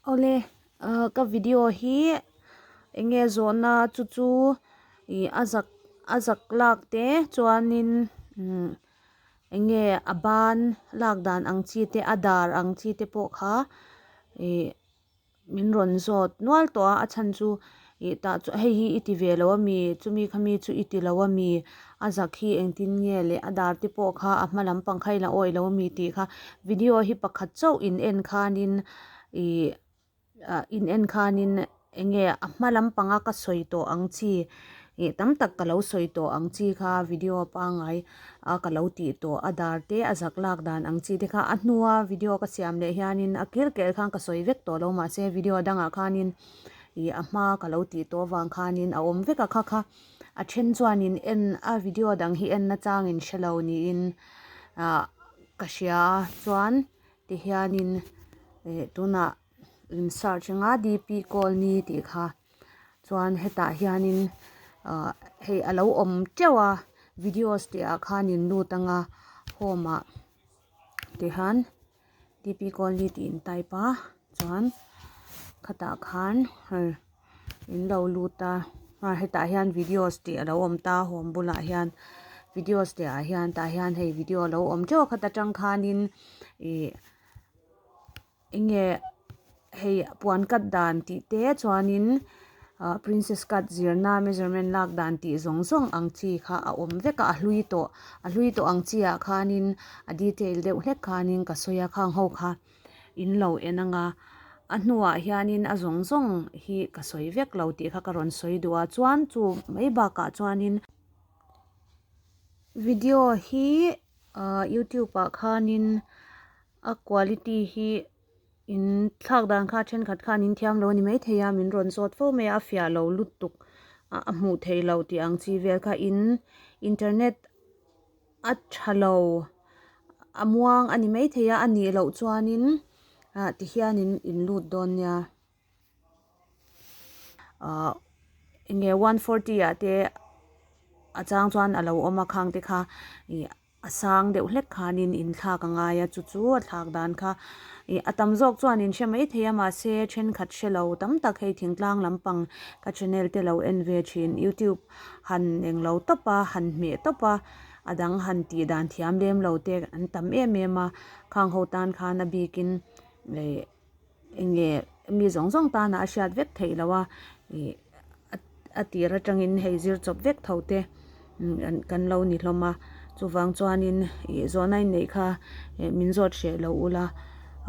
Awle ka video hi enge zawhna chu chu ih a zak a zak lak te chuanin enge a ban lak dan ang chi te a dar ang chi te pawh kha ih-- Min rawn zawt nual tawh a, a chhan chu ih tah chuan hei hi i ti ve lo a mi, chumi kha mi chu i ti lo a mi, a zak hi engtin nge le, a dar te pawh kha a hma lam pang kha i la awih lo a mi tih kha video hi pakhat chauh in en khanin ih ah in en khanin eng nge a hma lam panga ka sawi tawh ang chi ih tam tak ka lo sawi tawh ang chi kha video a pangai. a ka lo tih tawh a dar te a zak lak dan ang chi te kha a hnua video ka siam leh hianin a kir ker khan ka sawi vek tawh lo mahse video a dangah khanin ih a hma ka lo tih tawh avang khanin a awm vek a kha kha a then chuanin en a video dang hi en nachangin hre lo niin ah ka hria a chuan tihianin eh tunah in search anga dp colony tih kha. Chuan hetah hianin ah hei a lo awm teuh a videos tih ah khan in lut ang a home ah tih khan DP colony tih in type a chuan khatah khan hei in lo lut a ah hetah hian videos tih a lo awm ta home bulah hian videos teh ah hian tah hian hei video a lo awm teuh khat atang khan in ih-- Enge hei puan cut dan tih te chuanin ah princess cut zirna measurement lak dan tih zawng zawng ang chi kha a awm vek a a hlui tawh a hlui tawh ang chi ah khanin a detail deuh hlek khanin ka sawi a khang ho kha in lo en anga a hnuah hianin a zawng zawng hi ka sawi vek lo tih kha ka rawn sawi duh a chuan chu mai bakah chuanin video hi ah youtube ah khanin. A quality hi in thlak dan kha thenkhat khan in thiam lo ni mai thei a min rawn sawt fo mai a a fiah lo lutuk ah a hmuh theih lo tih ang chi vel kha in internet a tha lo a muang a ni mai thei a a nih loh chuan in ah ti hian in in lut dawn nia. Ahh enge one forty ah te a chang chuan a lo awm a khang te kha ih a sang deuh hlek khanin in thlak a ngai a chu chu a thlak dan kha ih a tam zawk chuan in hre mai thei a mahse thenkhat hre lo tam tak hei thingtlang lampang ka channel te lo en ve thin youtube han eng lo tawp a han hmeh tawp a a dang han tih dan thiam lem lo te an tam em em a khang ho tan khan a bikin ih-- Enge mi zawng zawng tana a hriat vek theih lo a, ih a tir atangin hei zir chawp vek tho te kan lo ni hlawm a, chuvang chuanin ih zawh na inneih kha min zawt hreh loh ula,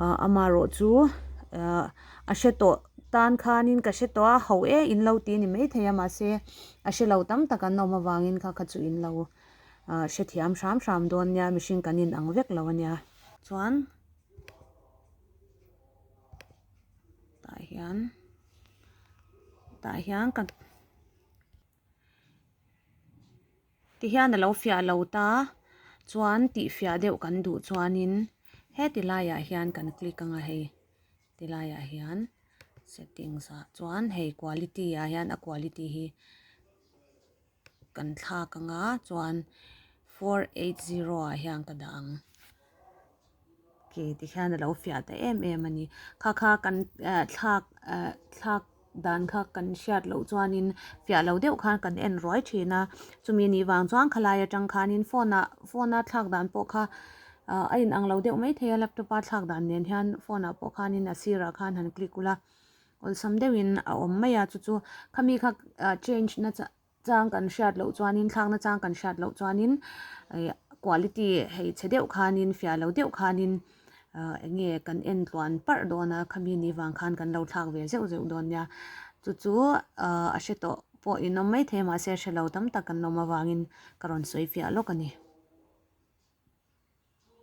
ah amarawh chu ah a hre tawh tan khanin ka hre tawh a, hauh e in lo ti ni mai thei a, mahse a hre lo tam tak an awm avangin kha kha chu in lo ah hrethiam hram hram dawn nia, mihring kan inang vek lo ania. Chuan tah hian tah hian ka ti hian alo fiah lo ta chuan tih fiah deuh kan duh chuanin heti laiah hian kan click anga hei ti laiah hian settings ah chuan hei quality ah hian a quality hi-- Kan thlak anga chuan four eight zero ah hian ka dah ang. Ke tikhian a lo fiah ta em em a ni. Kha kha kan thlak thlak dan kha kan hriat loh chuanin fiah lo deuh khan kan en ruai thin a. Chumi ni vang chuan khawlai atang khanin phone ah phone a thlak dan pawh kha a inang lo deuh maithei a laptop a thlak dan nen hian phone ah pawh khanin a sirah khan han click ula. Awlsam deuhin a awm mai a, chu chu khami kha change na chang kan hriat loh chuanin, thlakna chang kan hriat loh chuanin quality hei che deuh khanin, fiah lo deuh khanin eng nge kan en tluan parh dawn a, khami ni vang khan kan lo thlak ve zeuh zeuh dawn nia. Chu chu a hre tawh pawh inawm maithei mahse hre lo tam tak kan awm avangin ka rawn sawi fiah lawk a ni.